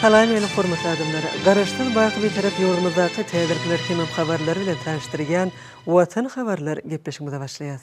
Salam meni hormatly adamlar! Garaşsyz baky Bitarap ýurdumyzdaky täzirkler hemem habarlar bilen tanyşdyrýan Watan habarlar gepleşigimize başlaýas.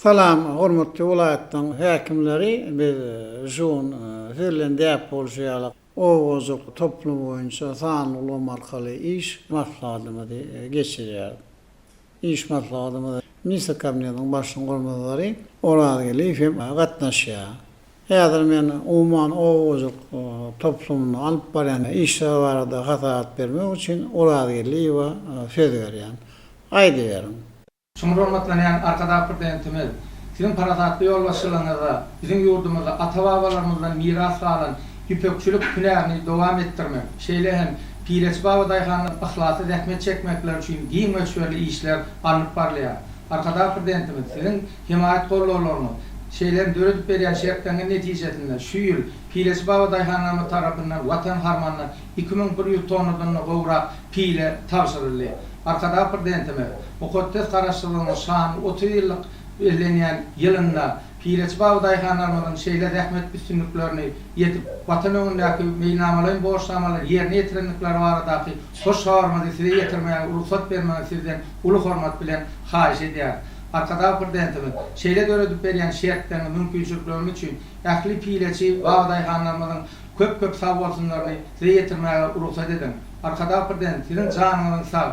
Salam, hormatly welaýatlaryň häkimleri! Biz Žun, siz bilen däp bolşy ýaly, owajuk toplumy boýunça sanly ulgam arkaly iş maslahatymyzy geçirýäris. Iş maslahatymyza Ministr Kabinetiniň Başlygynyň orunbasary Oraz Geliýew hem gatnaşýar. Häzir men umuman oba hojalyk toplumynda alyp barýan işler barada hasabat bermek üçin Oraz Geliýewe söz berýän. Aýdyberiň. Çuňňur hormatlanýan Arkadag Prezidentimiz, Siziň parasatly ýolbaşçylygyňyzda biziň ýurdumyzda ata-babalarymyzdan miras galan ýüpekçilik hünärini dowam etdirmek, şeýle hem Pireç baba daýhanlar yhlasly zähmet çekmekleri üçin giň möçberli işler alnyp barylýar. Arkadag Prezidentimiz Siziň hemaýat-gollawlaryňyz, şeýle hem döredip berýän şertleňňiz netijesinde şu ýyl Pireç baba daýhanlarymyz tarapyndan Watan harmanyna iki müň bir ýüz tonnadan-da gowrak pile tabşyryldy. Arkadag Prezidentimiz Mukaddes Garaşsyzlygynyň şanly otuz ýyllyk bellenýän ýylynda, Pireçi baba daýhanlarymyzyň şeýle zähmet üstünliklerini ýetip, Watan öňündäki meýilnamalaýyn borçnamalary ýerine ýetirendikleri baradaky hoş habarymyzy size ýetirmäge rugsat bermegiňizi sizden uly hormat bilen haýyş edýäris. Arkadag Prezidentimiz şeýle döredip berýän şertleriňi, mümkinçilikleriňi üçin ähli pireçi baba daýhanlarymyzyň köp köp sag bolsunlaryny size ýetirmäge rugsat ediň. Arkadag Prezident siziň janyňyzyň sag,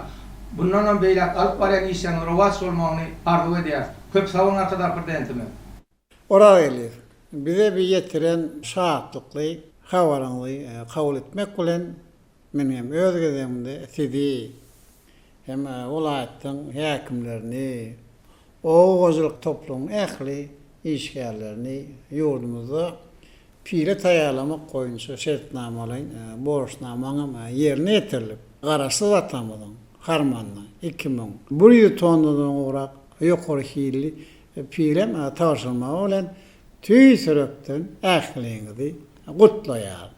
bundanam beýläk alyp barýan işleriňiz rowaç bolmagyny arzuw edýäris. Köp sag boluň Arkadagly Prezidentimiz. Oragelýew, bize bi ýetiren şatlykly habaryňyzy kabul etmek bilen, men hem öz gezegimde sizi hem welaýatyň häkimlerini, oba hojalyk toplumyň ähli işgärlerini ýurdumyzda pile taýýarlamak boýunça şertnamalaýyn borçnamaň hem ýerine ýetirilip, Garaşsyz atamyzyň harmanyna iki müň bir ýüz tonnadan gowrak Ýokary hilli film tabşyrmagy bilen tüýs ýürekden ähliňizi gutlaýaryn.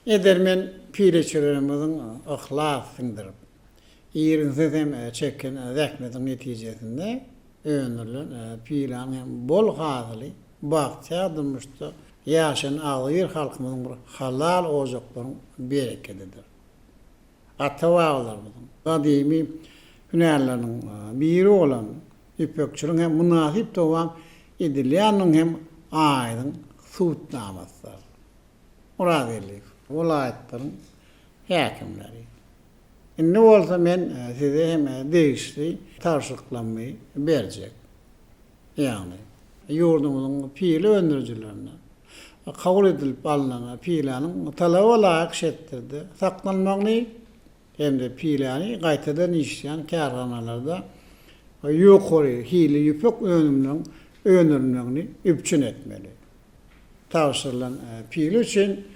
Edermen pileçelerimiziň yhlas siňdirip, Irginsiz hem çeken zähmetiň netijesinde öndürilen pylan hem bol hasyly bagtyýar durmuşda ýaşaýan agzybir halkymyzyň bir halal ojaklaryň berekedidir. Ata-babalarymyzyň gadymy hünärleriniň biri bolan ýüpekçiligiň hem mynasyp dowam edilýändigiň hem aýdyň subutnamasydyr. Myrat Elliýew welaýatlaryň häkimleri, Indi bolsa men size hem degişli tabşyryklarymy berjek. Ýagny, ýurdumyzyň pile öndürijilerine kabul edilip alnan piläniň talaba laýyk şertlerde saklanmagyny hem-de piläni gaýtadan işleýän kärhanalarda ýokary hilli ýüpek önüminiň öndürilmegini üpjün etmeli. tabşyrylan pile üçin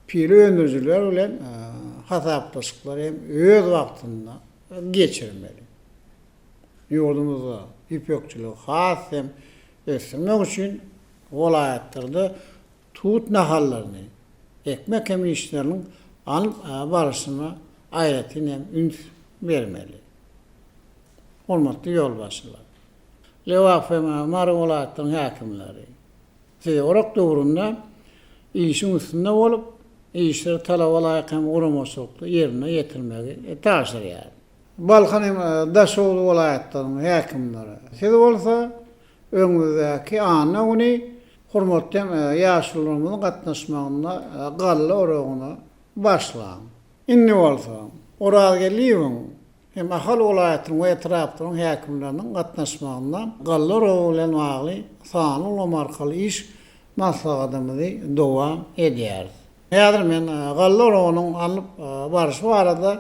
pile öndürijiler bilen hasaplaşyklary hem öz wagtynda geçirmeli. Ýurdumyzda ýüpekçiligi has hem ösdürmek üçin welaýatlarda tut nahallaryny ekmek hem işleriniň alnyp barşyna aýratyn hem üns bermeli. Hormatly ýolbaşçylar! Lebapem hem Mary welaýatlaryň häkimleri. Siz orak döwründe işiň üstünde bolup, işleri talaba laýyk hem guramaçylykly ýerine ýetirmegi tabşyrýar. Balkan hem Daşoguz welaýatlaryň häkimleri. Siz bolsa öňümizdäki anna güni hormatly hem ýaşulularymyzyň gatnaşmagynda galla oragyny başlaň. Indi bolsa Orazgeldiýewiň Hem Ahal welaýatynyň we etraplaryň häkimleriniň gatnaşmagynda galla rowy bilen bagly sanly ulgam arkaly iş maslahatymyzy dowam edýäris. Häzir men galla rowynyň alnyp barşy barada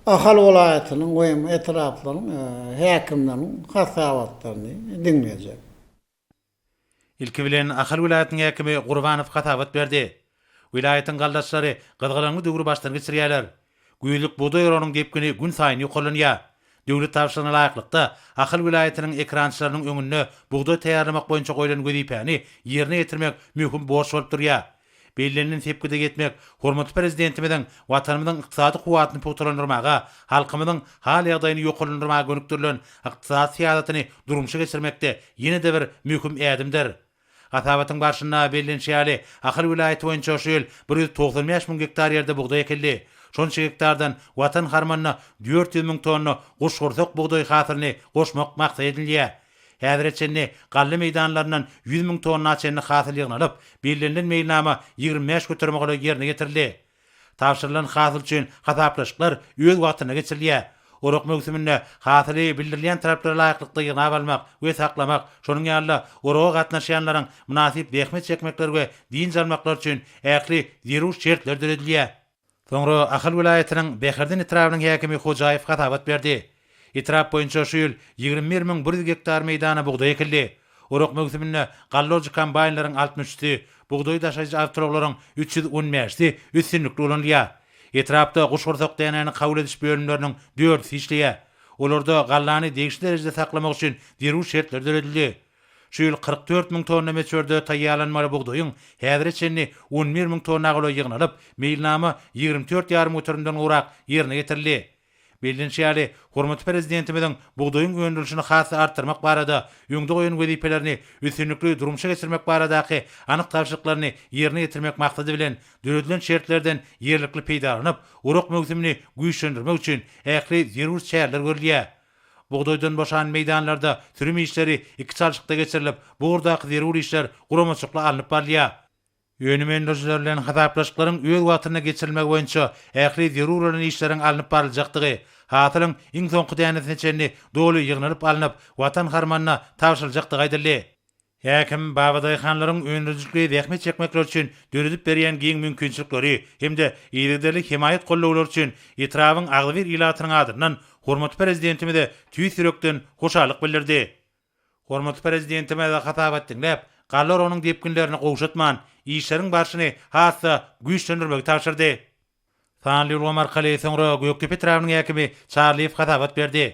Ahal welaýatynyň we hem etraplaryň häkimleriniň hasabatlaryny diňlejek. Ilki bilen Ahal welaýatynyň häkimi Gurbanow hasabat berdi. Welaýatyň galdaçlary gyzgalaňly döwri başdan geçirýärler. Güýzlük bugdaý oragynyň depgini gün saýyn ýokarlanýar. Döwlet tabşyrygyna laýyklykda, Ahal welaýatynyň ekerançylarynyň öňünde bugdaý taýýarlamak boýunça goýlan wezipäni ýerine ýetirmek möhüm borç bolup durýar. Bellenilen sepgide ýetmek hormatly Prezidentimiziň Watanymyzyň ykdysady kuwwatyny pugtalandyrmaga, halkymyzyň hal-ýagdaýyny ýokarlandyrmaga gönükdirilen ykdysady syýasatyny durmuşa geçirmekde ýene-de bir möhüm ädimdir. Hasabatyň barşynda bellenişi ýaly, Ahal welaýaty boýunça şu ýyl bir ýüz togsan bäş müň gektar ýerde bugdaý ekildi. Şonça gektardan Watan harmanyna dört ýüz müň tonna guşgursak bugdaý hasylyny goşmak maksat edinilýär. Häzire çenli galla meýdanlaryndan ýüz müň tonna çenli hasyl ýygnalyp, bellenilen meýilnama ýigrimi bäş göterime golaý ýerine ýetirildi. Tabşyrylan hasyl üçin hasaplaşyklar öz wagtynda geçirilýär. Orak möwsüminde hasyly bildirilýän taraplara laýyklykda ýygnap almak we saklamak, şonuň ýaly-da oraga gatnaşýanlaryň mynasyp zähmet çekmekleri we dynç almaklary üçin ähli zerur şertler döredilýär. Soňra Ahal welaýatynyň Bäherden etrabynyň häkimi Hojaýew hasabat berdi. Etrap boýunça şu ýyl ýigrimi bir müň bir ýüz gektar meýdana bugdaý ekildi. Orak möwsüminde gallolojy kombaýnlaryň altmyş üçüsi, bugdaý daşaýjy awtoulaglaryň üç ýüz on bäşisi üstünlikli ulanylýar. Etrapda guşgursak dänäni kabul ediş bölümleriniň dördüsi işleýär. Olarda gallany degişli derejede saklamak üçin zerur şertler döredildi. Şu ýyl kyrk dört müň tonna möçberde taýýarlanmaly bugdaýyň häzire çenli on bir müň tonna golaý ýygnalyp, meýilnama ýigrimi dört ýarym göterimden gowrak ýerine ýetirildi. Bellenişi ýaly, hormatly Prezidentimiziň bugdaýyň öndürilişini has-da artdyrmak barada öňde goýan wezipelerini üstünlikli durmuşa geçirmek baradaky anyk tabşyryklaryny ýerine ýetirmek maksady bilen döredilen şertlerden ýerlikli peýdalanyp, orak möwsümini güýçlendirmek üçin ähli zerur çäreler görülýär. Bugdaýdan boşan meýdanlarda sürüm işleri iki çalşykda geçirilip, bu ugurdaky zerur işler guramaçykly alnyp barylýar. Önüm öndürijiler bilen hasaplaşyklaryň öz wagtynda geçirilmegi boýunça ähli zerur bolan işleriň alnyp baryljakdygy, hasylyň iň soňky dänesine çenli doly ýygnalyp alnyp, Watan harmanyna tabşyryljakdygy aýdyldy. Häkim, babadaýhanlaryň öndürijilikli zähmet çekmekleri üçin döredip berýän giň mümkinçilikleri hem-de yzygiderli hemaýat-gollawlary üçin etrabyň agzybir ilatynyň adyndan hormatly Prezidentimize tüýs ýürekden hoşallyk bildirdi. Hormatly Prezidentimiz hasabat diňläp, galla oragynyň depginlerini gowşatman, işleriň barşyny has-da güýçlendirmegi tabşyrdy. Sanly ulgam arkaly soňra Gökdepe etrabynyň häkimi Çarlyýew hasabat berdi.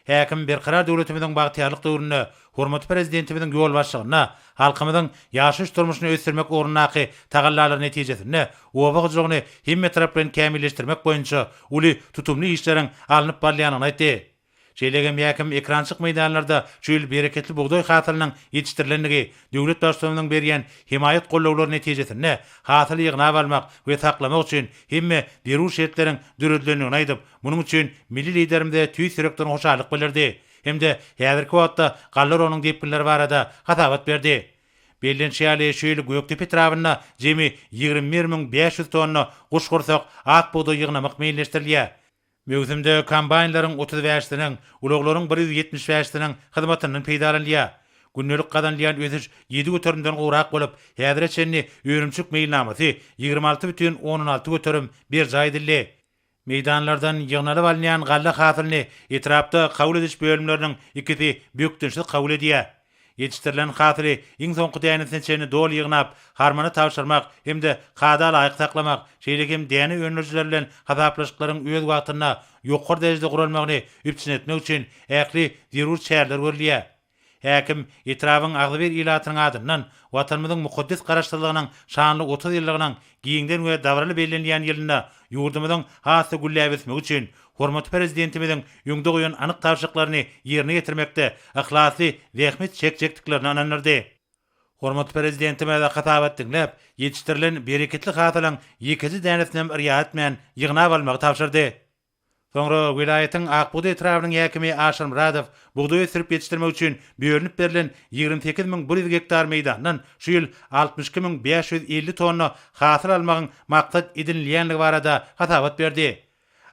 Häkim Berkarar döwletimiziň bagtyýarlyk döwründe hormatly Prezidentimiziň ýolbaşçylygynda halkymyzyň ýaşaýyş-durmuşyny ösdürmek ugrundaky tagallalary netijesinde oba hojalygyny hemmetaraplaýyn kämilleşdirmek boýunça uly tutumly işleriň alnyp barylýandygyny aýtdy. Şeýle-de mäkim ekrançyk meýdanlarda şu ýyl bereketli bugdaý hasylynyň ýetişdirilendigi, döwlet Baştutanynyň berýän hemaýat gollawlary netijesinde hasyly ýygnap almak we saklamak üçin hemme zerur şertleriň döredilendigini aýdyp, munuň üçin milli Liderimize tüýs ýürekden hoşallyk bildirdi hem-de häzirki wagtda galla orunyň depginleri barada hasabat berdi. Bellenişi ýaly, şu ýyl Gökdepe etrabynda jemi ýigrimi bir müň bäş ýüz tonna guşgursak ak bugdaý ýygnamak meýilleşdirilýär. Möwsümde kombaýnlaryň otuz bäş siniň, ulaglaryň bir ýüz ýetmiş bäş siniň hyzmatyndan peýdalanylýar. Gündelik gazanylýan ösüş ýedi göterimden gowrak bolup, häzire çenli önümçilik meýilnamasy ýigrimi alty bütin ondan alty göterim berjaý edildi. Meýdanlardan ýygnalyp alynýan galla hasylyny etrapda kabul ediş bölümleriniň ikisi bökdençsiz kabul edýär. Ýetişdirilen hasyly iň soňky dänesine çenli doly ýygnap, harmana tabşyrmak hem-de kada laýyk saklamak, şeýle hem däne öndürijiler bilen hasaplaşyklaryň öz wagtynda, ýokary derejede guralmagyny üpjün etmek üçin ähli zerur çäreler görülýär. Häkim, etrabyň agzybir ilatynyň adyndan Watanymyzyň mukaddes Garaşsyzlygynyň şanly otuz ýyllygynyň Giňden we dabaraly bellenilýän ýylynda ýurdumyzyň has-da gülläp ösmegi üçin hormatly Prezidentimiziň öňde goýan anyk tabşyryklaryny ýerine ýetirmekde yhlasly zähmet çekjekdiklerine ynandyrdy. Hormatly Prezidentimiz hasabat diňläp, ýetişdirilen bereketli hasylyň ýekeje dänesinem yrýa etmän ýygnap almagy tabşyrdy. Soňra welaýatyň Akbugdaý etrabynyň häkimi Aşyr Myradow bugdaý ösdürip ýetişdirmek üçin bölünip berlen ýigrimi sekiz müň bir ýüz gektar meýdandan şu ýyl altmyş iki müň bäş ýüz elli tonna hasyl almagyň maksat edinilýändigi barada hasabat berdi.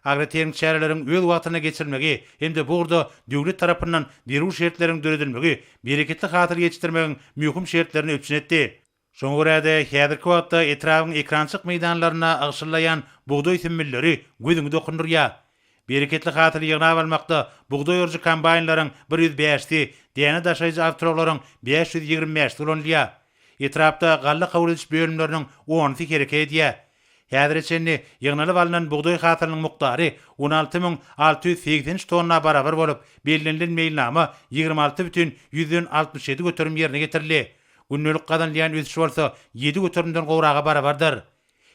Agrotermik çäreleriň öz wagtynda geçirilmegi hem-de bu ugurda döwlet tarapyndan zerur şertleriň döredilmegi bereketli hasyl ýetişdirmegiň möhüm şertlerini üpjün etdi. Şoňa görä-de, häzirki wagtda etrabyň ekrançyk meýdanlarynda ygşyllaýan bugdaý sümmülleri gözüňi dokundyrýar. Bereketli hasyly ýygnap almakda bugdaý orujy kombaýnlaryň bir ýüz bäşisi, däne daşaýjy awtoulaglaryň bäş ýüz ýigrimi bäşisi ulanylýar. Etrapda galla kabul ediş bölümleriniň onusy hereket edýär. Häzire çenli ýygnalyp alnan bugdaý hasylynyň mukdary on alty müň alty ýüz segsen üç tonna barabar bolup, bellenilen meýilnama ýigrimi alty bütin ýüzden altmyş ýedi göterim ýerine ýetirildi. Gündelik gazanylýan ösüş bolsa ýedi göterimden gowraga barabardyr.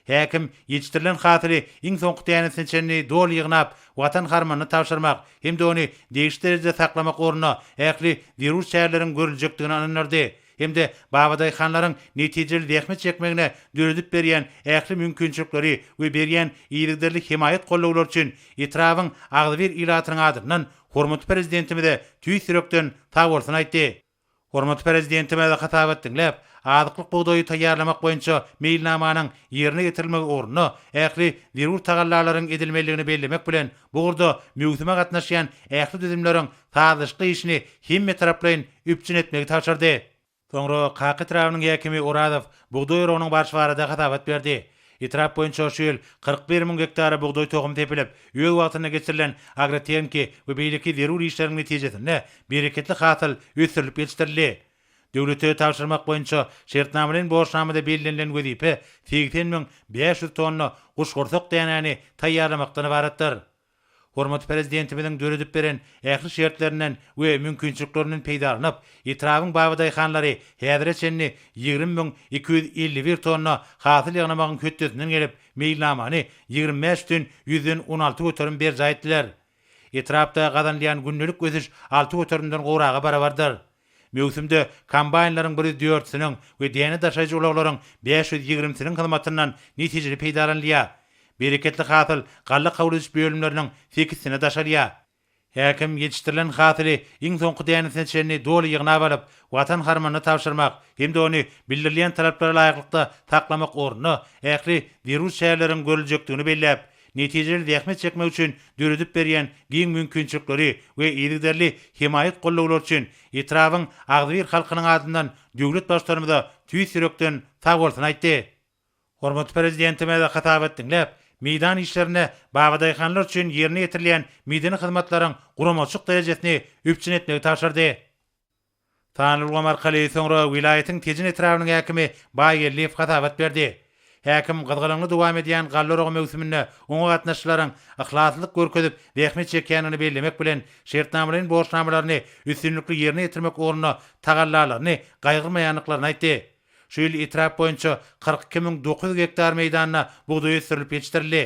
Häkim ýetişdirilen hasyly iň soňky dänesine çenli doly ýygnap, Watan harmanyna tabşyrmak hem-de ony degişli derejede saklamak ugrunda ähli zerur çäreleriň görüljekdigine ynandyrdy hem-de babadaýhanlaryň netijeli zähmet çekmegine döredip berýän ähli mümkinçilikleri we berýän yzygiderli hemaýat-gollawlary üçin etrabyň agzybir ilatynyň adyndan hormatly Prezidentimize tüýs ýürekden sagbolsun aýtdy. Hormatly Prezidentimiz hasabat diňläp, azyklyk bugdaýy taýýarlamak boýunça meýilnamanyň ýerine ýetirilmegi ugrunda ähli zerur tagallalaryň edilmelidigini bellemek bilen, bu ugurda möwsüme gatnaşýan ähli düzümleriň sazlaşykly işini hemmetaraplaýyn üpjün etmegi tabşyrdy. Soňra Kaka etrabynyň häkimi Orazow bugdaý oragynyň barşy barada hasabat berdi. Etrap boýunça şu ýyl kyrk bir müň gektara bugdaý tohumy sepilip, öz wagtynda geçirilen agrotehniki we beýleki zerur işleriň netijesinde bereketli hasyl ösdürilip ýetişdirildi. Döwlete tabşyrmak boýunça şertnamalaýyn borçnamada bellenilen wezipe segsen müň bäş ýüz tonna guşgursak dänäni taýýarlamakdan ybaratdyr. Hormatly Prezidentimiziň döredip beren ähli şertlerinden we mümkinçiliklerinden peýdalanyp, etrabyň babadaýhanlary häzire çenli ýigrimi müň iki ýüz elli bir tonna hasyl ýygnamagyň hötdesinden gelip, meýilnamany ýigrimi bäş ütün ýüzden on alty göterim berjaý etdiler. Etrapda gazanylýan gündelik ösüş alty göterimden gowraga barabardyr. Möwsümde kombaýnlaryň bir ýüz dörtüsiniň we däne daşaýjy ulaglaryň bäş ýüz ýigrimisiniň hyzmatyndan netijeli peýdalanylýar. Bereketli hasyl galla kabul ediş bölümleriniň sekizisine daşalýar. Häkim ýetişdirilen hasyly iň soňky dänesine çenli doly ýygnap alyp, Watan harmanyna tabşyrmak hem-de ony bildirilýän talaplara laýyklykda saklamak ugrunda ähli zerur çäreleriň görüljekdigini belläp, netijeli zähmet çekmek üçin döredip berýän giň mümkinçilikleri we yzygiderli hemaýat-gollawlary üçin etrabyň agzybir halkynyň adyndan döwlet Baştutanymyza tüýs ýürekden sag bolsun aýtdy. Hormatly Prezidentimiz hasabat diňläp, meýdan işlerinde babadaýhanlar üçin ýerine ýetirilýän medeni hyzmatlaryň guramaçylyk derejesini üpjün etmegi tabşyrdy. Sanulgam arkaly soňra welaýatyň Tejen etrabynyň häkimi Baýgeldiýew hasabat berdi. Häkim gyzgalaňly dowam edýän galla oragy möwsüminde oňa gatnaşyjylaryň yhlaslylyk görkezip zähmet çekýändigini bellemek bilen, şertnamalaýyn borçnamalaryny üstünlikli ýerine ýetirmek ugrunda tagallalaryny gaýgyrmaýandyklaryny aýtdy. Şu ýyl etrap boýunça kyrk iki müň dokuz ýüz gektar meýdanda bugdaý ösdürilip ýetişdirildi.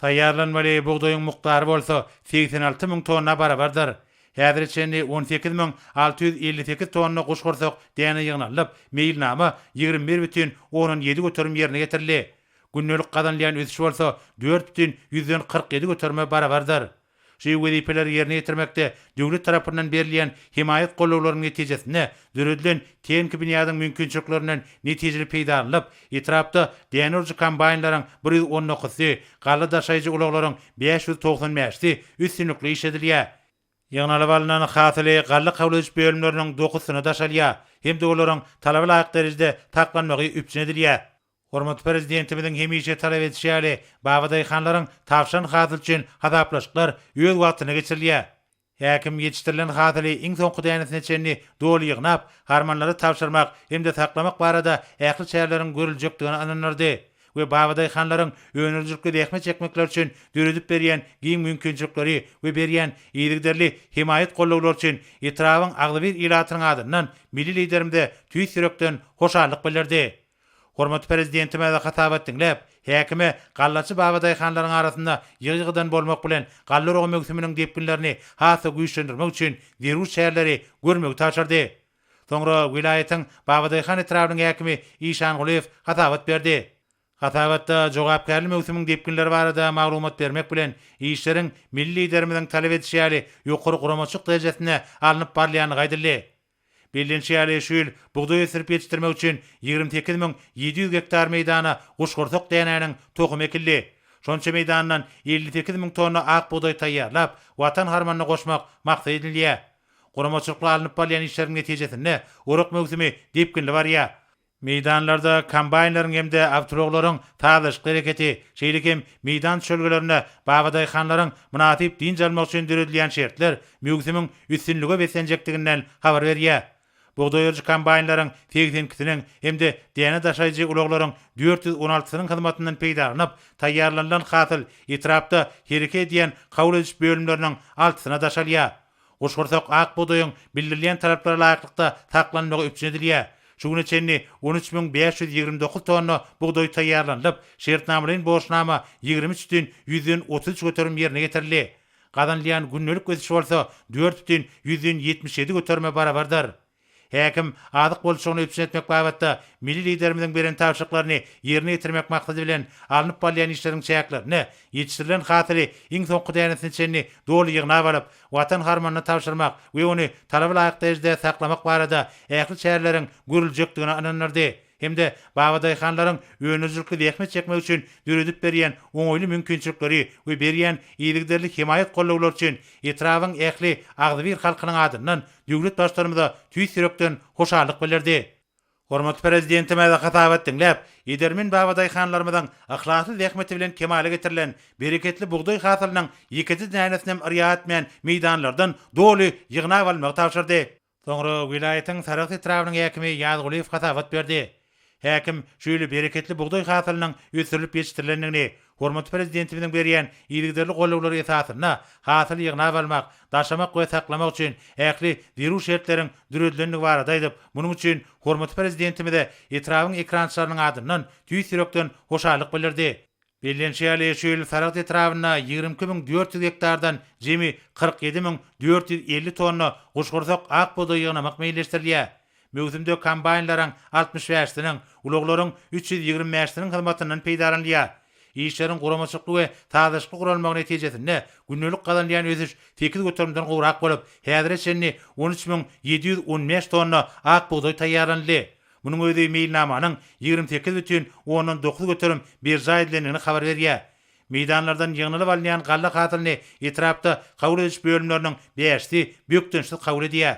Taýýarlanmaly bugdaýyň mukdary bolsa segsen alty müň tonna barabardyr. Häzire çenli on sekiz müň alty ýüz elli sekiz tonna guşgursak däne ýygnalyp, meýilnama ýigrimi bir bütin ondan ýedi göterim ýerine ýetirildi. Gündelik gazanylýan ösüş bolsa dört bütin ýüzden kyrk ýedi göterime barabardyr. Şu wezipeleri ýerine ýetirmekde döwlet tarapyndan berilýän hemaýat gollawlarynyň netijesinde döredilen tehniki binýadyň mümkinçiliklerinden netijeli peýdalanylyp, etrapda däne urujy kombaýnlaryň bir ýüz on dokuzysy, galla daşaýjy ulaglaryň bäş ýüz togsan bäşisi üstünlikli işledilýär. Ýygnalyp alnan hasyly galla kabul ediş bölümleriniň dokuzysyna daşalýar hem-de olaryň talaba laýyk derejede saklanmagy üpjün edilýär. Hormatly Prezidentimiziň hemişe talap edişi ýaly, babadaýhanlaryň tabşan hasyl üçin hasaplaşyklar öz wagtynda geçirilýär. Häkim ýetişdirilen hasyly iň soňky dänesine çenli doly ýygnap, harmanlara tabşyrmak hem-de saklamak barada ähli çäreleriň görüljekdigine ynandyrdy we babadaýhanlaryň önerijilikli zähmet çekmekleri üçin döredip berýän giň mümkinçilikleri we berýän yzygiderli hemaýat-gollawlary üçin etrabyň agzybir ilatynyň adyndan Milli Liderimize tüýs ýürekden hoşallyk bildirdi. Hormatly Prezidentimize hasabat diňläp, häkime gallaçy babadaýhanlaryň arasynda ýygy-ýygydan bolmak bilen, galla oragy möwsüminiň depginlerini has-da güýçlendirmek üçin zerur çäreleri görmegi tabşyrdy. Soňra welaýatyň Babadaýhan etrabynyň häkimi Işan Gulyýew hasabat berdi. Hasabatda jogapkärli möwsümiň depginleri barada maglumat bermek bilen, işleriň milli Liderimiziň talap edişi ýaly ýokary guramaçylyk derejesinde alnyp barylýandygy aýdyldy. Bellenişi ýaly, şu ýyl bugdaý ösdürip ýetişdirmek üçin ýigrimi sekiz müň ýedi ýüz gektar meýdana guşgursak dänäniň tohumy ekildi. Şonça meýdandan elli sekiz müň tonna ak bugdaý taýýarlap, Watan harmanyna goşmak maksat edinilýär. Guramaçylykly alnyp barylýan işleriň netijesinde orak möwsümi depginli barýar. Meýdanlarda kombaýnlaryň hem-de awtoulaglaryň sazlaşykly hereketi, şeýle hem meýdan çölgelerinde babadaýhanlaryň mynasyp dynç almagy üçin döredilýän şertler möwsümiň üstünlige beslenjekdiginden habar berýär. Bugdaý oýujy kombaýnlaryň segsen ikisiniň hem-de däne daşaýjy ulaglaryň dört ýüz on altysynyň hyzmatyndan peýdalanyp, taýýarlanylan hasyl etrapda hereke edýän kabul ediş bölümleriniň altysyna daşalýar. Guşgursak ak bugdaýyň bildirilýän talaplara laýyklykda saklanmagy üpjün edilýär. Şu güne çenli on üç müň bäş ýüz ýigrimi dokuz tonna bugdaý taýýarlanylyp, şertnamalaýyn borçnama ýigrimi üç düýn ýüzden otuz üç göterim ýerine ýetirildi. Gazanylýan gündelik ösüş bolsa dört düýn ýüzden ýetmiş ýedi göterime barabardyr. Häkim, azyk bolçulygyny üpjün etmek babatda milli Liderimiziň beren tabşyryklaryny ýerine ýetirmek maksady bilen alnyp barylýan işleriň çäklerinde ýetişdirilen hasyly iň soňky dänesine çenli doly ýygnap alyp, Watan harmanyna tabşyrmak we ony talaba laýyk derejede saklamak barada ähli çäreleriň görüljekdigine ynandyrdy. hem-de babadaýhanlaryň önerijilikli zähmet çekmegi üçin döredip berýän oňaýly mümkinçilikleri we berýän yzygiderli hemaýat-gollawlary üçin etrabyň ähli agzybir halkynyň adyndan döwlet Baştutanymyza tüýs ýürekden hoşallyk bildirdi. Hormatly Prezidentimiz hasabat diňläp, edermen babadaýhanlarymyzyň yhlasly zähmeti bilen kemala getirilen bereketli bugdaý hasylynyň ýekeje dänesinem yrýa etmän meýdanlardan doly ýygnap almagy tabşyrdy. Soňra welaýatyň Sarahs etrabynyň häkimi Ýazgulyýew hasabat berdi. Häkim şeýle bereketli bugdaý hasylynyň ösdürilip ýetişdirilendigini, hormatly Prezidentimiziň berýän yzygiderli gollawlary esasynda hasyly ýygnap almak, daşamak we saklamak üçin ähli zerur şertleriň döredilendigi barada aýdyp, munuň üçin hormatly Prezidentimize etrabyň ekrançylarynyň adyndan tüýs ýürekden hoşallyk bildirdi. Bellenişi ýaly, şu ýyl Saragt etrabynda ýigrimi iki müň dört ýüz gektardan jemi kyrk ýedi müň dört ýüz elli tonna guşgursak ak bugdaý ýygnamak meýilleşdirilýär. Möwsümde kombaýnlaryň altmyş bäşisiniň, ulaglaryň üç ýüz ýigrimi bäşisiniň hyzmatyndan peýdalanylýar. Işleriň guramaçylykly we sazlaşykly guralmagy netijesinde gündelik gazanylýan ösüş sekiz göterimden gowrak bolup, häzire çenli on üç müň ýedi ýüz on bäş tonna ak bugdaý taýýarlanyldy. Munuň özi meýilnamanyň ýigrimi sekiz bütin ondan dokuz göterim berjaý edilendigini habar berýär. Meýdanlardan ýygnalyp alynýan galla hasylyny etrapda kabul ediş bölümleriniň bäşisi bökdençsiz kabul edýär.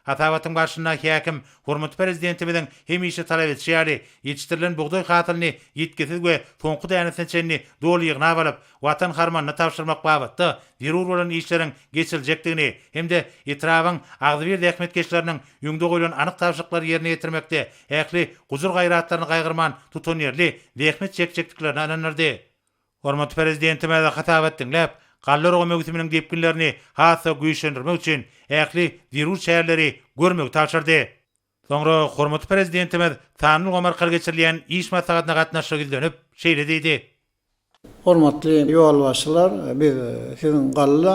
Hasabatyň barşynda häkim hormatly Prezidentimiziň hemişe talap edişi ýaly, ýetişdirilen bugdaý hasylyny ýitgisiz we soňky dänesine çenli doly ýygnap alyp, Watan harmanyna tabşyrmak babatda zerur bolan işleriň geçiriljekdigini hem-de etrabyň agzybir zähmetkeşleriniň öňde goýlan anyk tabşyryklary ýerine ýetirmekde ähli gujur-gaýratlaryny gaýgyrman tutanýerli zähmet çekjekdiklerine ynandyrdy. Hormatly Prezidentimize hasabat diňläp, galla urgy möwsüminiň depginlerini has-da güýçlendirmek üçin ähli zerur çäreleri görmegi tabşyrdy. Soňra hormatly Prezidentimiz sanly ulgam arkaly geçirilýän iş maslahatyna gatnaşyp ýüzlenip, şeýle diýdi. Hormatly ýolbaşçylar, biz Siziň galla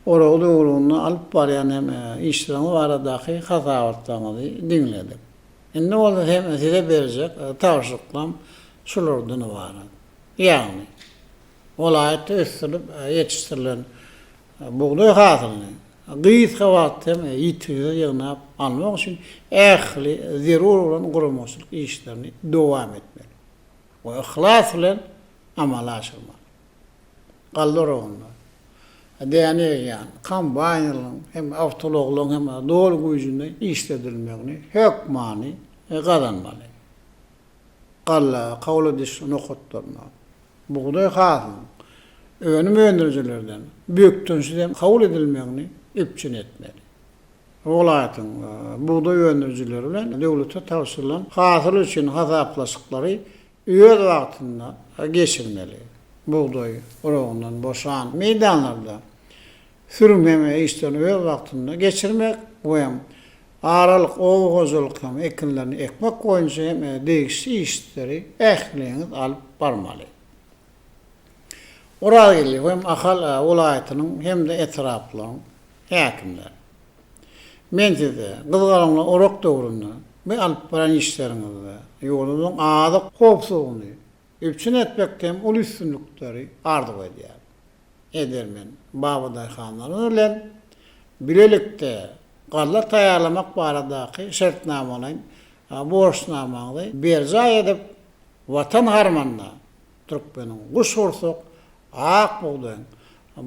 oragy döwründe alyp barýan hem işleriňiz baradaky hasabatlaryňyzy diňledik. Indi bolsa hem Size berjek tabşyryklarym şulardan ybarat. Ýagny, welaýatda ösdürilip ýetişdirilen Bugdaý hasylyny gysga wagt hem ýitgisiz ýygnap almak üçin ähli zerur bolan guramaçylyk işlerini dowam etmeli we yhlas bilen amala aşyrmaly. Galla oragynda däne egýän kombaýnlaryň hem awtoulaglaryň hem doly güýjünde işledilmegini hökmany gazanmaly. galla, kawla dişli nokatlaryna, bugdaý hasylynyň önüm öndürijilerden bökdençsizem kabul edilmegini üpjün etmeli. Welaýatyň bugdaý öndürijileri bilen döwlete tabşyrylan hasyl üçin hasaplaşyklary öz wagtynda geçirmeli. Bugdaý urugyndan boşan meýdanlarda sürmegini işlerini öz wagtynda geçirmek we aralyk oba hojalyk hem ekinlerini ekmek boýunça hem degişli işleri ähliňiz alyp barmaly. Orazgeldi hem Ahal welaýatynyň hem-de etraplaryň häkimleri. Men size gyzgalaňly orak döwründe we alyp baran işleriňizde ýurdumyzyň azyk howpsuzlygyny üpjün etmekde hem uly üstünlikleri arzuw edýär. Edermen babadaýhanlarymyz bilen bilelikde galla taýýarlamak baradaky şertnamalaýyn borçnamaňyzy berjaý edip, Watan harmanyna türkmeniň guşgursak ak bugdaýyň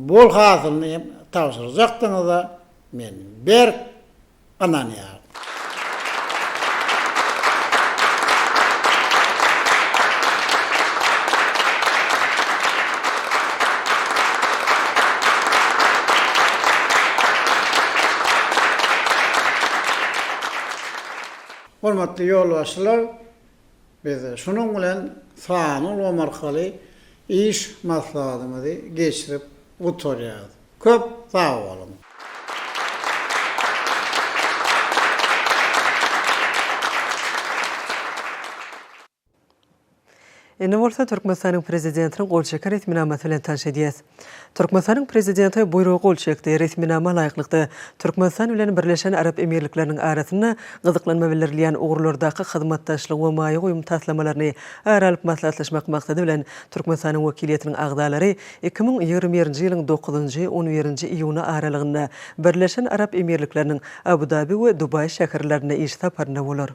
bol hasylyny hem tabşyrjakdygyňyza men berk ynanýaryn. Hormatly ýolbaşçylar, Biz şunuň bilen sanly ulgam arkaly iş maslahatymyzy geçirip gutarýarys. Köp sag boluň! Indi bolsa Türkmenistanyň Prezidentiniň gol çeken resminamasy bilen tanyş edýäs. Türkmenistanyň Prezidenti buýruga gol çekdi. Resminama laýyklykda, Türkmenistan bilen Birleşen Arap Emirlikleriniň arasynda gyzyklanma bildirilýän ugurlardaky hyzmatdaşlygyň we maýa goýum taslamalaryny ara alyp maslahatlaşmak maksady bilen, Türkmenistanyň wekiliýetiniň agzalary iki müň ýigrimi birinji ýylyň dokuzynjy, on birinji iýuny aralygynda Birleşen Arap Emirlikleriniň Abu-Dabi we Dubaý şäherlerinde iş saparynda bolar.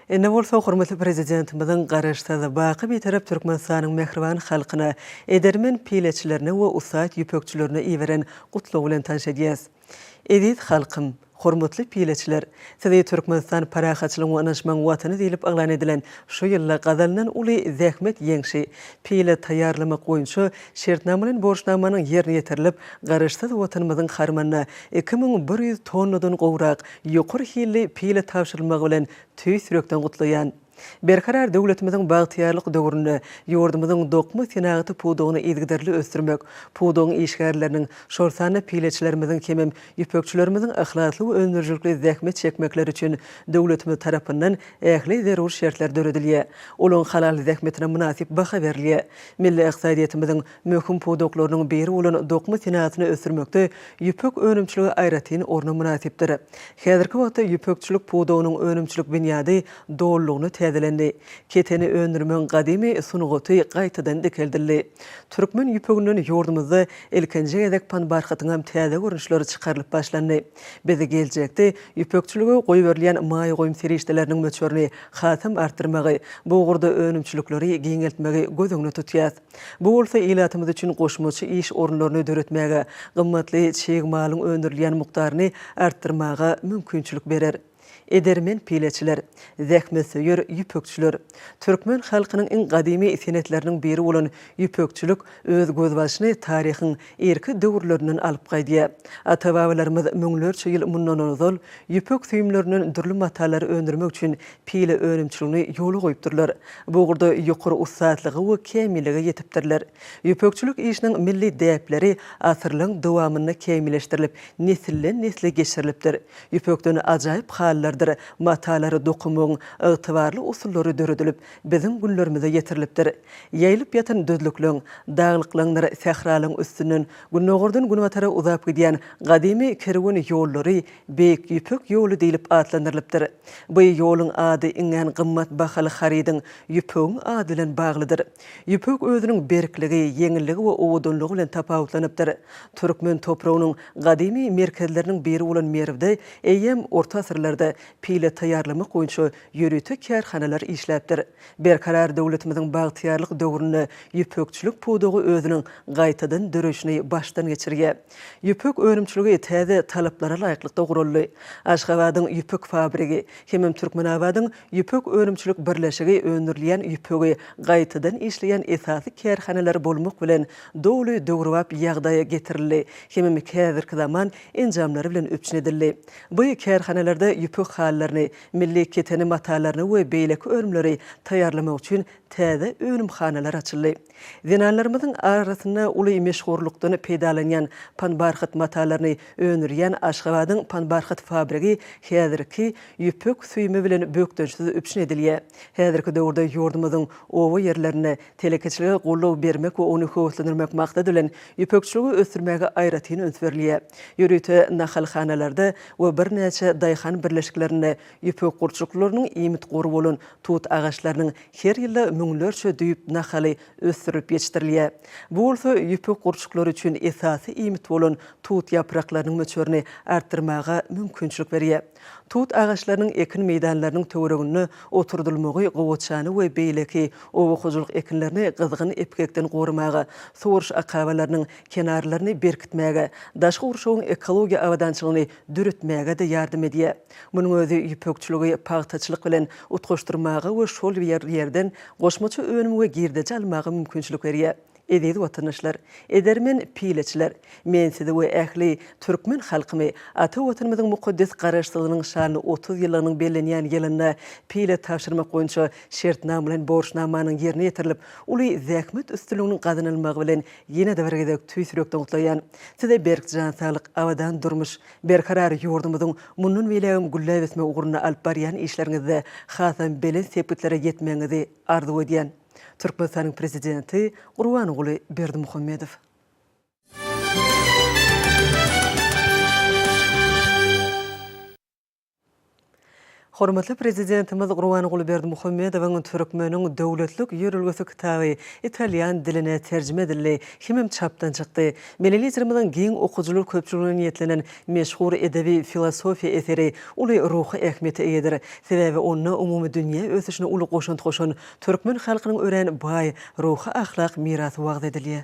Indi bolsa hormatly Prezidentimiziň Garaşsyz, baky Bitarap Türkmenistanyň mähriban halkyna, edermen pileçilerine we ussat ýüpekçilerine iberen Gutlagy bilen tanyş edýäs. Eziz halkym! Hormatly pileçiler! Sizi Türkmenistan parahatçylygyň we ynanyşmagyň Watany diýlip yglan edilen şu ýylda gazanylan uly zähmet ýeňşi, pile taýýarlamak boýunça şertnamalaýyn borçnamanyň ýerine ýetirilip, Garaşsyz Watanymyzyň harmanyna iki müň bir ýüz tonnadan gowrak Ýokary hilli pile tabşyrylmagy bilen tüýs ýürekden gutlaýan! Berkarar döwletimiziň bagtyýarlyk döwründe ýurdumyzyň dokma senagaty pudagyny yzygiderli ösdürmek, pudagyň işgärleriniň, şol sanda pileçilerimiziň hemem ýüpekçilerimiziň yhlasly we öndürijilikli zähmet çekmekleri üçin döwletimiz tarapyndan ähli zerur şertler döredilýär, olaryň halal zähmetine mynasyp baha berilýär. Milli ykdysadyýetimiziň Möhüm pudaklarynyň biri bolan dokma senatyny ösdürmekde ýüpek önümçiligi aýratyn orna mynasypdyr. Häzirki wagtda ýüpekçilik pudagynyň önümçilik binýady dolulygyna täzelendi. Keteni öndürmegiň gadymy sungaty gaýtadan dikeldildi. Türkmen ýüpeginden ýurdumyzda ilkinji gezek panbarhatyňam täze görnüşleri çykarylyp başlandy. Biz geljekde ýüpekçilige goýberilýän maýa goýum serişdeleriniň möçberini hasam artdyrmagy, bu ugurda önümçilikleri giňeltmegi göz öňüne tutýas. Bu bolsa ilatymyz üçin goşmaça iş orunlaryny döretmäge, gymmatly çig malyň öndürilýän mukdaryny artdyrmaga mümkinçilik berer. Edermen pileçiler, zähmetsöýer ýüpekçiler. Türkmen halkynyň iň gadymy senetleriniň biri bolan ýüpekçilik öz gözbaşyny taryhyň irki döwürlerinden alyp gaýdýar. Ata-babalarymyz müňlerçe ýyl mundan ozal ýüpek süýümlerinden dürli matalary öndürmek üçin pile önümçiligini ýola goýupdyrlar. Bu ugurda ýokary ussatlyga we kämillige ýetipdirler. Ýüpekçilik işiniň milli däpleri asyrlaryň dowamynda kämilleşdirilip, nesilden-nesle geçirilipdir. Ýüpekden ajaýyp halylardyr matalary dokunmagyň ygtybarly usullary döredilip, biziň günlerimize ýetirilipdir. Ýaýylyp ýatan düzlükleň, daglyklaňdyr sähralaň üstünden günordan günbatara uzap gidýän gadymy kerwen ýollary Beýik Ýüpek ýoly diýlip atlandyrylypdyr. Bu ýoluň ady iňňän gymmat bahaly harydyň, ýüpegiň ady bilen baglydyr. Ýüpek özüniň berkligi, ýeňilligi we owadanlygy bilen tapawutlanypdyr. Türkmen topragynyň gadymy merkezleriniň biri bolan Merwde eýýäm orta asyrlarda pile taýýarlamak boýunça ýörite kärhanalar işläpdir. Berkarar döwletimiziň bagtyýarlyk döwründe ýüpekçilik pudagy özüniň gaýtadan döreýşini başdan geçirýär. Ýüpek önümçiligi täze talaplara laýyklykda guraldy. Aşgabadyň ýüpek fabrigi hemem Türkmenabadyň ýüpek önümçilik birleşigi öndürilýän ýüpegi gaýtadan işleýän esasy kärhanalar bolmak bilen doly döwrebap ýagdaýa getirildi hemem häzirki zaman enjamlary bilen üpjün edildi. By kärhanalarda ýüpek halylaryny, Milli keteni matalaryny we beýleki önümleri taýýarlamak üçin täze önümhanalar açyldy. Zenanlarymyzyň arasynda uly meşhurlykdan peýdalanýan panbarhat matalaryny öndürýän Aşgabadyň panbarhat fabrigi häzirki ýüpek süýümi bilen bökdençsiz üpjün edilýär. Häzirki döwürde ýurdumyzyň oba ýerlerinde Telekeçilige goldaw bermek we ony höweslendirmek maksady bilen, ýüpekçiligi ösdürmäge aýratyn üns berilýär. Ýörite nahalhanalarda we birnäçe daýhan birleşiklerinde ýüpek gurçuklarynyň iýmit gory bolan tut agaçlarynyň her ýylda müňlerçe düýp nahaly ösdürilip ýetişdirilýär. Bu bolsa ýüpek gurçuklary üçin esasy iýmit bolan tut ýapraklarynyň möçberini artdyrmaga mümkinçilik berýär. Tut agaçlarynyň ekin meýdanlarynyň töwereginde oturdylmagy gowaçany we beýleki oba hojalyk ekinlerini gyzgyn epgekden goramaga, suwaryş akabalarynyň kenarlaryny berkitmäge, daşky gurşawyň ekologiýa abadançylygyny döretmäge-de ýardam edýär. Munuň özi ýüpekçiligi pagtaçylyk bilen utgaşdyrmaga we şol ýerden goşmaça önüm we girdeji almaga mümkinçilik berýär. Eziz watandaşlar! Edermen pileçiler! Men sizi we ähli türkmen halkymy ata Watanymyzyň mukaddes Garaşsyzlygynyň şanly otuz ýyllygynyň bellenýän ýylynda pile tabşyrmak boýunça şertnama bilen borçnamanyň ýerine ýetirilip, uly zähmet üstünliginiň gazanylmagy bilen ýene-de bir gezek tüýs ýürekden gutlaýan. Size berk jan saglyk, abadan durmuş, berkarar ýurdumyzyň mundan beýlägem gülläp ösmegi ugrunda alyp barýan işleriňizde hasam belent sepgitlere ýetmegiňizi arzuw edýän. Türkmenistanyň Prezidenti Gurbanguly Berdimuhamedow. Hormatly Prezidentimiz Gurbanguly Berdimuhamedowyň Türkmeniň döwletlik ýörelgesi kitaby italýan diline terjime edildi hemem çapdan çykdy. Milli Liderimiziň giň okyjylar köpçüligine niýetlenen meşhur edebi-filosofiýa eseri uly ruhy ähmiýete eýedir. Sebäbi onda umumydünýä ösüşine uly goşant goşan Türkmen halkynyň örän baý ruhy-ahlak mirasy wagyz edilýär.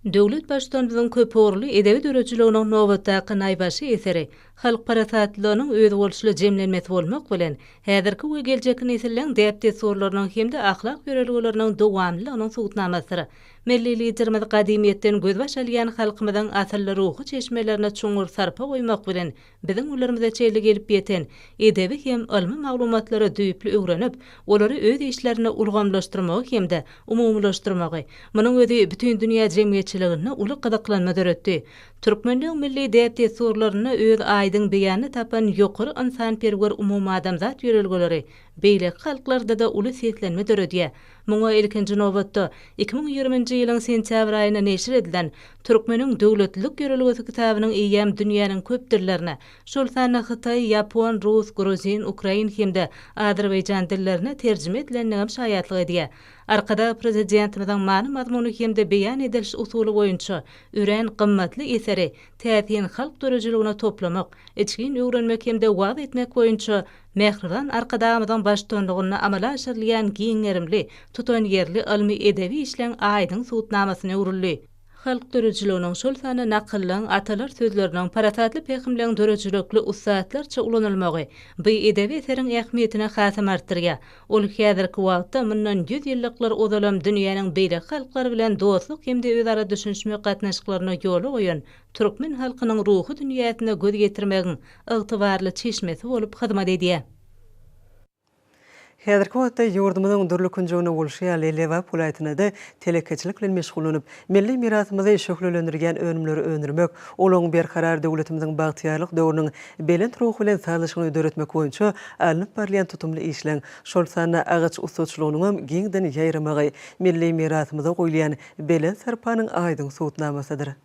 Döwlet Baştutanymyzyň köpugurly edebi döredijiliginiň nobatdaky naýbaşy eseri halk parasatlylygynyň özboluşly jemlenmesi bolmak bilen, häzirki we geljekki nesilleň däp-dessurlarynyň hem-de ahlak ýörelgeleriniň dowamlylygynyň subutnamasydyr. Milli Liderimiz gadymyýetden gözbaş alýan halkymyzyň asylly ruhy çeşmelerine çuňňur sarpa goýmak bilen, Biziň günlerimize çenli gelip ýeten edebi hem ylmy maglumatlary düýpli öwrenip, olary öz işlerinde ulgamlaşdyrmagy hem-de umumylaşdyrmagy, munuň özi bütin dünýä jemgyýetçiliginde uly gyzyklanma döretdi. Türkmenligiň milli däp-dessurlarynda öz aýdyň beýanyny tapan ýokary ynsanperwer umumadamzat ýörelgeleri beýleki halklarda-da uly seslenme döredýär. Muňa, ilkinji nobatda, iki müň ýigriminji ýylyň sentýabr aýynda neşir edilen Türkmeniň döwletlilik ýörelgesi kitabynyň eýýäm dünýäniň köp dillerine, şol sanda hytaý, ýapon, rus, gruzin, ukrain hem-de azerbaýjan dillerine terjime edilendigem şaýatlyk edýär. Arkadag Prezidentimiziň many-mazmuny hem-de beýan ediliş usuly boýunça örän gymmatly eseri täsin halk döredijiligine toplamak, içgin öwrenmek hem-de wagyz etmek boýunça Mähriban Arkadagymyzyň baştutanlygynda amala aşyrylýan giň gerimli, tutanýerli ylmy-edebi işleň aýdyň subutnamasyna öwrüldi. Halk döredijiliginiň, şol sanda nakyllaň, atalar sözleriniň, parasatly pähimleň döredijilikli ussatlarça ulanylmagy bu edebi eseriň ähmiýetini hasam artdyrýar. Ol häzirki wagtda mundan ýüz ýyllyklar ozalam dünýäniň beýleki halklary bilen dostluk hem-de özara düşünişmek gatnaşyklaryny ýola goýan türkmen halkynyň ruhy dünýäsine göz ýetirmegiň ygtybarly çeşmesi bolup hyzmat edýär. Häzirki wagtda ýurdumyzyň dürli künjeginde bolşy ýaly, Lebap welaýatynda-da telekeçilik bilen meşgullanyp, milli mirasymyzy şöhlelendirýän önümleri öndürmek, olaryň Berkarar döwletimiziň bagtyýarlyk döwrüniň belent ruhy bilen sazlaşygyny döretmek boýunça alnyp barylýan tutumly işleriň, şol sanda agaç ussaçylygynyňam giňden ýaýramagy milli mirasymyza goýulýan belent sarpanyň aýdyň subutnamasydyr.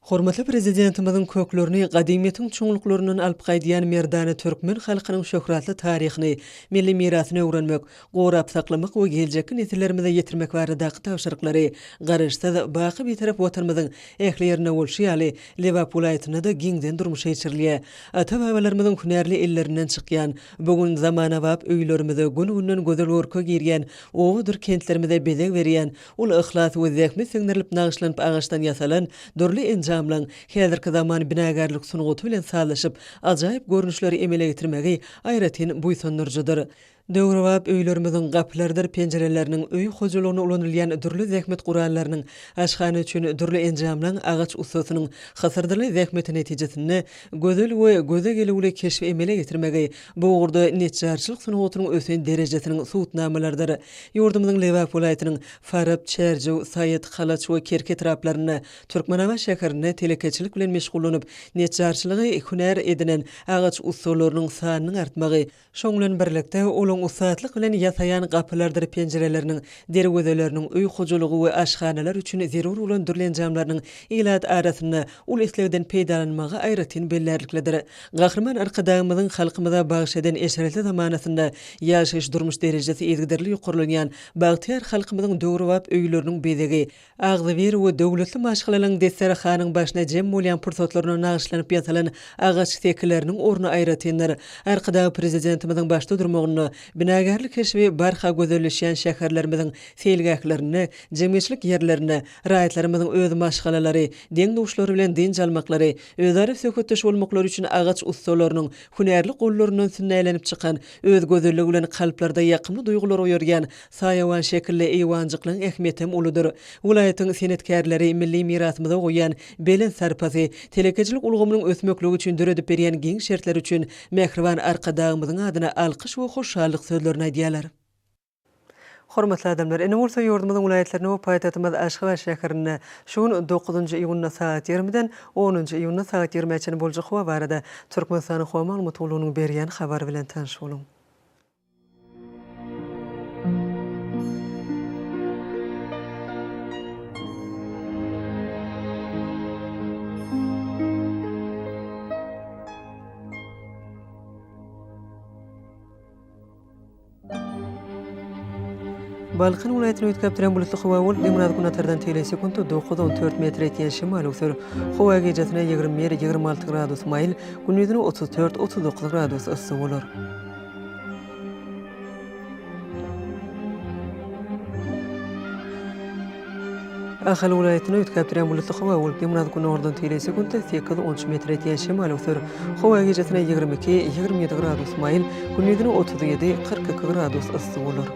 Hormatly Prezidentimiziň köklerini gadymyýetiň çuňluklaryndan alyp gaýdýan merdana türkmen halkynyň şöhratly taryhyny, milli mirasyny öwrenmek, gorap saklamak we geljekki nesillerimize ýetirmek baradaky tabşyryklary Garaşsyz, baky Bitarap Watanymyzyň ähli ýerinde bolşy ýaly, Lebap welaýatynda-da giňden durmuşa geçirilýär. Ata-babalarymyzyň hünärli ellerinden çykýan, bu gün zamanabap öýlerimize, gün-günden gözel görke girýän, obadyr kentlerimize bezeg berýän, Ol yhlas we zähmet siňdirilip nagyşlanyp agaçdan ýasalan dürli enjamlaryň häzirki zaman binagärlik sungaty bilen sazlaşyp, ajaýyp görnüşleri emele getirmegi aýratyn buýsandyryjydyr. Döwrebap öýlerimiziň gapylarydyr penjireleriniň, öý hojalygynda ulanylýan dürli zähmet gurallarynyň, aşhana üçin dürli enjamlaryň agaç ussasynyň hysyrdyly zähmeti netijesinde gözel we göze gelüwli keşbi emele getirmegi bu ugurda neçjarçylyk sungatynyň ösen derejesiniň subutnamalarydyr. Ýurdumyzyň Lebap welaýatynyň Farap, Çärjew, Saýat, Halaç we Kerki etraplarynda, Türkmenabat şäherinde telekeçilik bilen meşgullanyp, neçjarçylygy hünär edinen agaç ussalarynyň sanynyň artmagy, şonuň bilen birlikde, olaryň ussatlyk bilen ýasaýan gapylardyr penjireleriniň, derwezeleriniň, öý hojalygy we aşhanalar üçin zerur bolan dürli enjamlarynyň ilat arasynda uly islegden peýdalanmagy aýratyn bellärliklidir. Gahryman Arkadagymyzyň halkymyza bagyş eden eşretli zamanasynda ýaşaýyş-durmuş derejesi yzygiderli ýokarlanýan bagtyýar halkymyzyň döwrebap öýleriniň bezegi, agzybir we döwletli maşgalalygyň desterahanyň başyna jem bolýan pursatlaryna nagyşlanyp ýasalan agaç sekileriniň orny aýratyndyr. Arkadagly Prezidentimiziň başda durmagynda binagärlik keşbi barha gözelleşýän şäherlerimiziň seýilgählerinde, jemgyýetçilik ýerlerinde raýatlarymyzyň öz maşgalalary, deň-duşlary bilen dynç almaklary, Özara söhbetdeş bolmaklary üçin agaç ussalarynyň hünärli gollaryndan sünnälenip çykan, öz gözelligi bilen kalplarda ýakymly duýgulary oýarýan saýawan şekilli eýwanjyklaryň ähmiýetem uludyr. Welaýatyň senetkärleri milli mirasymyza goýýan belent sarpasy, telekeçilik ulgamynyň ösmekligi üçin döredip berýän giň şertleri üçin mähriban Arkadagymyzyň adyna alkyş we hoşallyk sözlerini aýdýarlar. Hormatly adamlar! Ine bolsa ýurdumyzyň welaýatlarynda we paýtagtymyz Aşgabat şäherinde şu gün dokuzynjy iýunda sagat ýigrimiden onunjy iýunda sagat ýigrimä çenli boljak howa barada Türkmenistanyň Howa maglumat gullugynyň berýän habary bilen tanyş boluň. Balkan welaýatyny üýtgäp duran bulutly howa bolup, demirgaz-günbatardan tegelek sekunta dokuz, on dört metr etýän şemal öwser. Howa gijasine ýigrimi bir, ýigrimi alty gradus maýyl, gündizine otuz dört, otuz dokuz gradus yssy bolar. Ahal welaýatynda üýtgäp durýan bulutly howa bolupdy, biraz günordan teýlese sekunda sekiz, on üç metre ýetýän şemal öwser. Howa gijesine ýigrimi iki, ýigrimi ýedi gradus maýyl, gündizine otuz ýedi, kyrk iki gradus yssy bolar.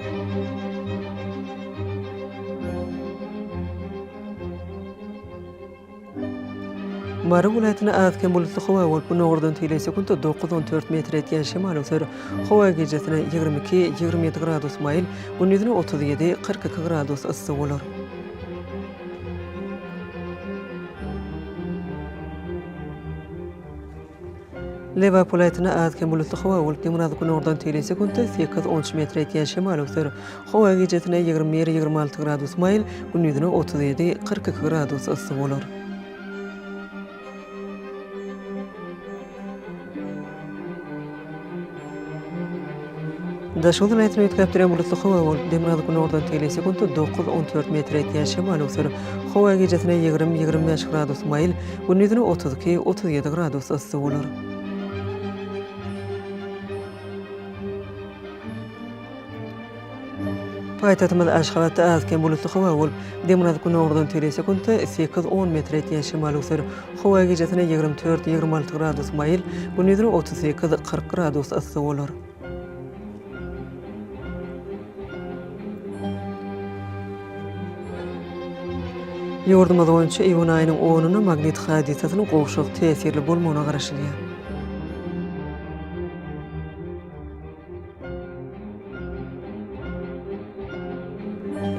Mary welaýatynda az-kem bulutly howa bolup, günordan teýle sekuntda dokuz-on dört metr etýän şemal öser. Howa gijesine ýigrimi iki, ýigrimi ýedi gradus maýyl, gündizine otuz ýedi, kyrk iki gradus yssy bolar. Lewa polaýtyna az-kem bulutly howa bolup, demirgazyk günordan teýle sekuntda sekiz on üç metr ýetýän şemal öwser. Howa gijesine ýigrimi bir, ýigrimi alty gradus maýyl, gündizine otuz ýedi, kyrk iki gradus yssy bolar. Daşoguz welaýatyny üýtgäpdirýän bulutly howa bolup, demirgazyk günordan tegelýär, sekuntda dokuz, on dört metr ýetýän şemal öwser. Howa gijesine ýigrimi, ýigrimi bäş gradus maýyl, gündizine otuz iki, otuz ýedi gradus yssy bolar. Paýtagtymyz Aşgabatda az-kem bulutly howa bolup, demirgazyk günordan tele sekuntda sekiz, on metr etýän şemal öser. Howa gijesine ýigrimi dört, ýigrimi alty gradus maýyl, gündizine otuz sekiz, kyrk gradus yssy bolar. Ýurdumyz boýunça iýun aýynyň onuna magnit hadysasynyň gowşak täsirli bolmagyna garaşylýar.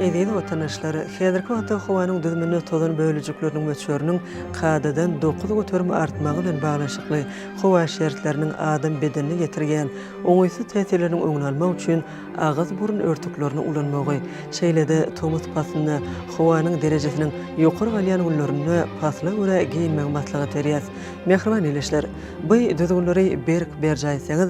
Eziz watandaşlar, häzirki wagtda howanyň düzüminde tozan bölejikleriniň möçberiniň kadadan dokuz göterim artmagy bilen baglanyşykly howa şertleriniň adam bedenine ýetirýän oňaýsyz täsirleriniň öňüni almak üçin agyz-burun örtüklerini ulanmagy, şeýle-de tomus paslynda howanyň derejesiniň ýokary galýan günlerinde pasla görä geýinmegi maslahat berýäs. Mähriban ildeşler! Bu düzgünleri berk berjaý etseňiz,